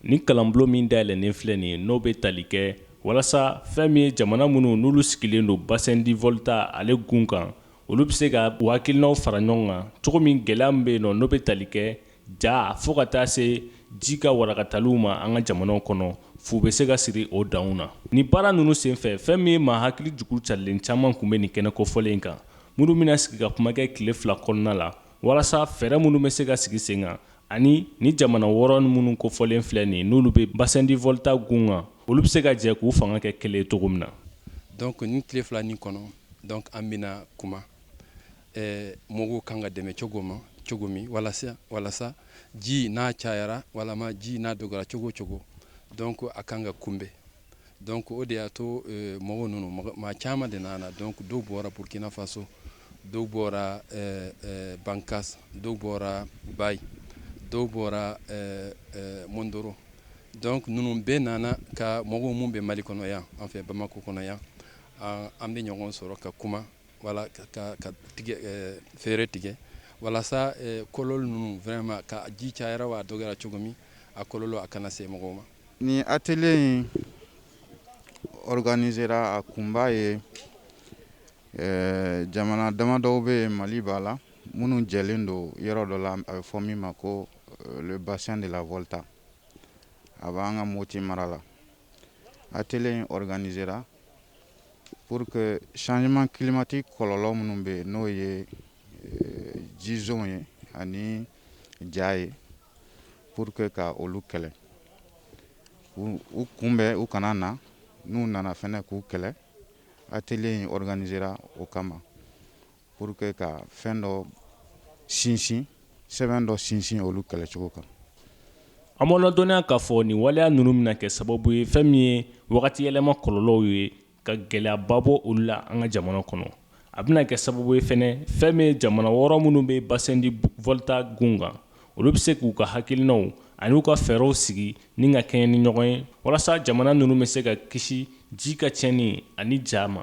Ni kalanbulon min dayɛlɛlen filɛ nin ye n'o bɛ tali kɛ walasa fɛn min ye jamana minnu n'olu sigilen don bassin du Volta ale gun kan olu bɛ se ka u hakilinaw fara ɲɔgɔn kan cogo min gɛlɛya min bɛ yen nɔ n'o bɛ tali kɛ ja fo ka taa se ji ka warakataliw ma an ka jamanaw kɔnɔ fu bɛ se ka siri o danw na ni baara ninnu senfɛ fɛn min ye maa hakili jugu carilen caman tun bɛ nin kɛnɛ kofɔlen kan minnu bɛna sigi ka kuma kɛ tile fila kɔnɔna la walasa fɛɛrɛ minnu bɛ se ka sigi sen kan ani ni jamana wɔɔrɔ minnu kofɔlen filɛ nin n'olu bɛ bassin du Volta gun kan olu bɛ se ka jɛ k'u fanga kɛ kelen cogo min na donc ni tile fila nin kɔnɔ donc an bɛna kuma eh, mɔgɔw kan ka dɛmɛ cogo ma cogo min walasa walasa ji n'a cayara walama ji n'a dɔgɔyara cogo o cogo donc a kan ka kunbɛn donc o de y'a to mɔgɔw ninnu maa caman de nana donc dɔw bɔra Burkina Faso dɔw bɔra Bankas dɔw bɔra Bayi dɔw bɔra Mondoro donc ninnu bɛɛ nana ka mɔgɔw minnu bɛ Mali kɔnɔ yan an fɛ Bamakɔ kɔnɔ yan an bɛ ɲɔgɔn sɔrɔ ka kuma wala ka fɛɛrɛ tigɛ walasa kɔlɔlɔ ninnu vraiment ka ji cayara wa a dɔgɔyara cogo min a kɔlɔlɔ a kana se mɔgɔw ma Nin atelier in organisera a kunba ye jamana damadɔw bɛ yen Mali b'a la minnu jɛlen don yɔrɔ dɔ la a bɛ fɔ min ma ko le bassin de la Volta a b'an ka Moti mara la atelier in organisera pour que changement climatique kɔlɔlɔ minnu bɛ yen n'o ye jisɔn ye ani ja ye Pour que ka olu kɛlɛ u kunbɛn u kana na n'u nana fɛnɛ k'u kɛlɛ atelier in organisera o kama pour que ka fɛn dɔ sinsin sɛbɛn dɔ sinsin olu kɛlɛcogo kan an b'aw ladɔnniya k'a fɔ nin waleya ninnu bɛna kɛ sababu ye fɛn min ye wagati yɛlɛma kɔlɔlɔw ye ka gɛlɛyaba bɔ olu la an ka jamana kɔnɔ a bɛna kɛ sababu ye fɛnɛ fɛn min ye jamana wɔɔrɔ minnu bɛ bassin du Volta gun kan olu bɛ se k'u ka hakilinaw ani u ka fɛɛrɛw sigi ni ka kɛɲɛ ni ɲɔgɔn ye walasa jamana ninnu bɛ se ka kisi ji ka tiɲɛni ani ja ma